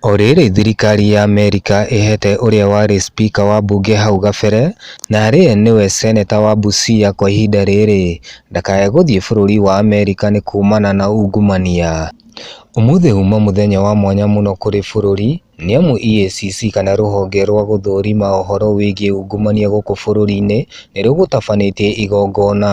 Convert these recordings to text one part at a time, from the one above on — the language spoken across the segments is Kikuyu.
O rĩrĩ thirikari ya Amerika ĩhete ũrĩa warĩ spika wa mbunge hau gabere na arĩe nĩwe seneta wa Busia kwa ihinda rĩrĩ ndakae gũthiĩ bũrũri wa Amerika nĩ kuumana na ungumania. Ũmũthĩ huma mũthenya wa mwanya mũno kũrĩ bũrũri nĩamu EACC kana rũhonge rwa gũthũrima ũhoro wĩgiĩ ungumania gũkũ bũrũri-inĩ nĩrũgũtabanĩtie igongona.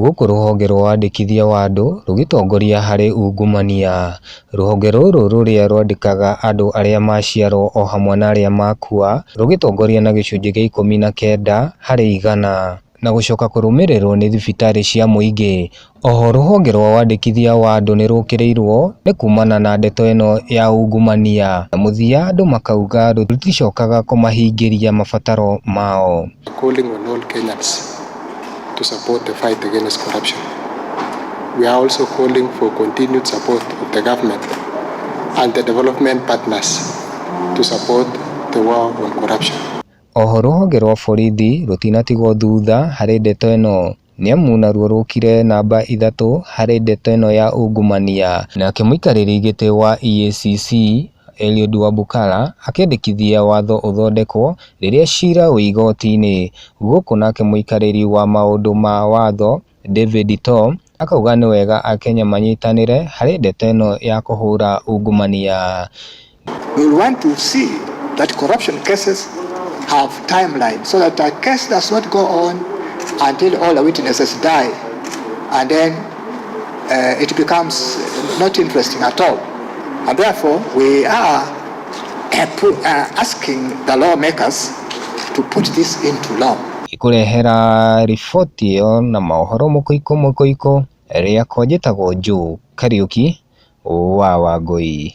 Gũkũ rũhonge rwa wandĩkithia wa andũ rũgĩtongoria harĩ ungumania. Rũhonge rũrũ rũrĩa rwandĩkaga andũ arĩa maciarwo o hamwe na arĩa makua rũgĩtongoria na gĩcunjĩ gĩa ikũmi na kenda harĩ igana. Na gũcoka kũrũmĩrĩrwo nĩ thibitarĩ cia mũingĩ. Oho rũhonge rwa wandĩkithia wa andũ nĩ rũkĩrĩirwo nĩ kumana na ndeto ĩno ya ungumania. Na mũthia andũ makauga rũticokaga kũmahingĩria mabataro mao. Calling on all Kenyans. to support the fight against corruption. We are also calling for continued support of the government and the development partners to support the war on corruption. Oho rũhonge rwa borithi rũtinatigwo thutha harĩ ndeto ĩno nĩamu naruo rũkire namba ithatũ harĩ ndeto ĩno ya ungumania. Nake mũikarĩri gĩtĩ wa EACC Eliud Wabukala akĩendekithia watho ũthondekwo rĩrĩa cira wĩ igoti-inĩ, gũkũ nake mũikarĩri wa maũndũ ma watho David To akauga nĩ wega Akenya manyitanĩre harĩ ndeto ĩno ya kũhũra ungumania. We want to see that corruption cases have timeline so that a case does not go on until all the witnesses die and then uh, it becomes not interesting at all. And therefore, we are uh, uh, asking the lawmakers to put this into law. Ikurehera riboti ĩyo na mohoro mũkũikũ mũkũikũ rĩakwa njĩtagwo Joe Kariuki wa Wangũi.